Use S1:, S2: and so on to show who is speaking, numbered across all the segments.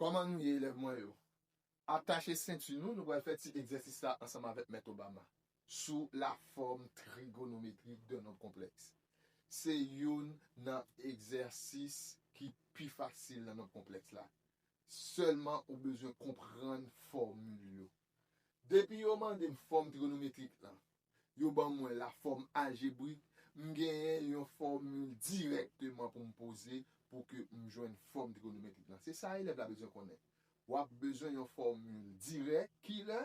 S1: Kòman nou ye elèv mwen yo? Atache senti nou, nou pral fè ti egzèsis la ansanm avèk Mèt Obama sou lafòm trigonometrik dè nonb konplèks. Se youn nan egzèsis ki pi fasil nan nonb konplèks la. Sèlman ou bezwen konprann fòmil yo. Depi yo mande m fòm trigonometrik lan, yo ban mwen la fòm aljebrik, m genyen yon fòmil dirèkteman pou m poze pou ke m jwenn fòm trigonometrik lan. Se sa elèv la bezwen konnen. W ap bezwen yon fòmil dirèk, ki lè?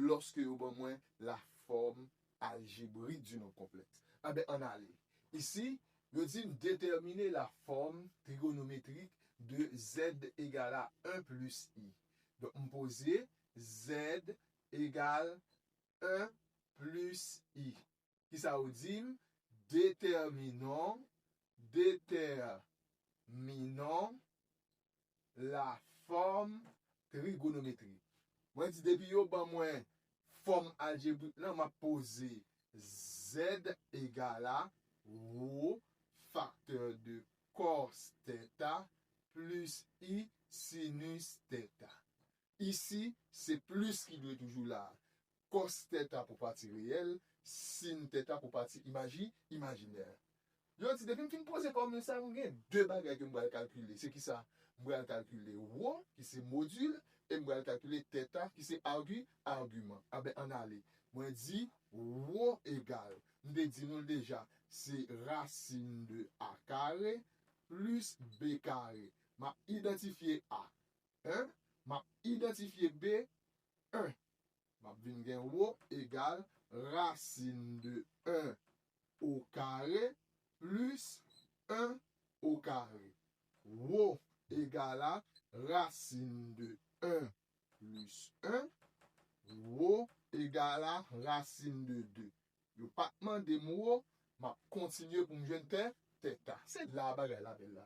S1: Lòske yo ban mwen la fòm aljebrik di nonb konplèks. Enben, an n ale. Isi, yo di m detèmine la fòm trigonometrik de Z egal a 1 plis I. Donk, m poze Z egal 1 plis i. Ki sa ou di m? Detèminon, detèminon lafòm trigonometrik. Mwen di depi yo ban mwen fòm aljebrik lan, m ap poze Z egal a wo faktè de kòs tèta plis i sinis tèta. Isi, se plis ki dwe toujou la a. Kòs tèt a pou pati reyèl, sin tèt a pou pati imaji, imajinè. Yo di, depi m fin poze fòmil sa a, mwen gen de bagay ke m pral kalkile. Se kisa? M pral kalkile wo, ki se modil, e m pral kalkile tèta, ki se argi, agiman. Anben, ann ale. Mwen di, wo egal, m te di nou l deja, se rasin de a kare plis b kare. M ap idantifye a. 1, map idantifye B, 1. Map vin gen wo egal rasin de 1 o kare plis 1 o kare. Wo egal a rasin de 1 plis 1. Wo egal a rasin de 2. Yo pat mande m wo, map kontinye pou m jwenn tè, tèta. Se la bagay la bèl la.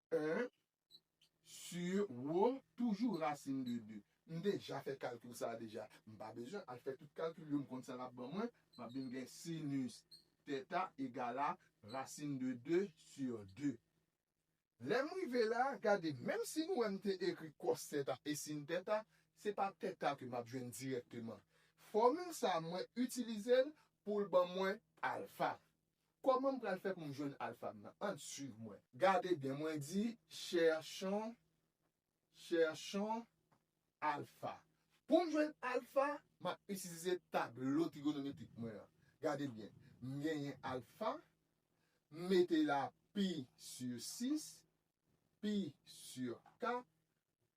S1: 1 sur wo toujou rasin de 2. M deja fè kalkil sa a deja. M pa bezwen al fè tout kalkil yo, m konn sa l ap ban mwen. M ap vin gen sinus tèta egal a rasin de 2 sur 2. Lè m rive la a, gade, menm si nou wè m te ekri kòs tèta e sin tèta, se pa tèta ke m ap jwenn dirèkteman. Fòmil sa a mwen itilize l pou l ban mwen alfa. Koman m pral fè pou m jwenn alpha m nan ann swiv mwen. Gade byen mwen di cherchons cherchons alpha pou m jwenn alpha map itilize tablo trigonometrik mwen an gade byen m genyen alpha m mete la pi sur 6 pi sur 4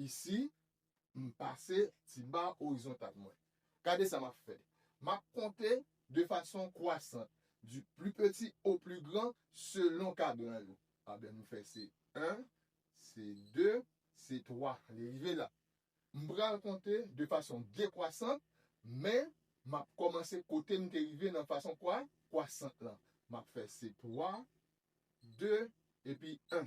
S1: Isi, m pase ti ba orizontal mwen. Gade sa m ap fè. M ap konte de fason kwasant, du plus petit au plus grand, selon kadran yo. Anben m fè se 1, se 2, se 3, li rive la. M pral konte de fason dekwasant, men m ap kòmanse kote m te rive nan fason kwa, kwasant lan. M ap fè se 3, 2, epi 1.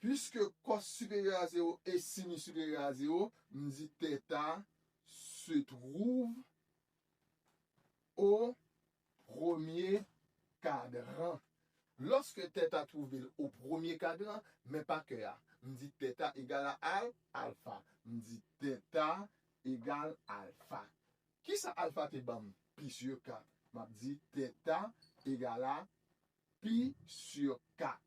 S1: Piske kòs siperyè a zewo e sini siperyè a zewo, m di tèta se twouv o premye kadran. Lòske tèta twouve l o premye kadran, men pa kè a, m di tèta egal a al, alfa. M di tèta egal alfa. Kisa alfa te ban m? Pi si 4. M ap di tèta egal a pi si 4.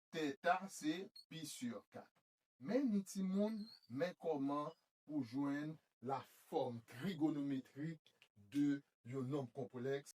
S1: Theta se pi sur 4. Men ni timoun, men kòman pou jwenn la fòm trigonometrik de yon nonb konplèks.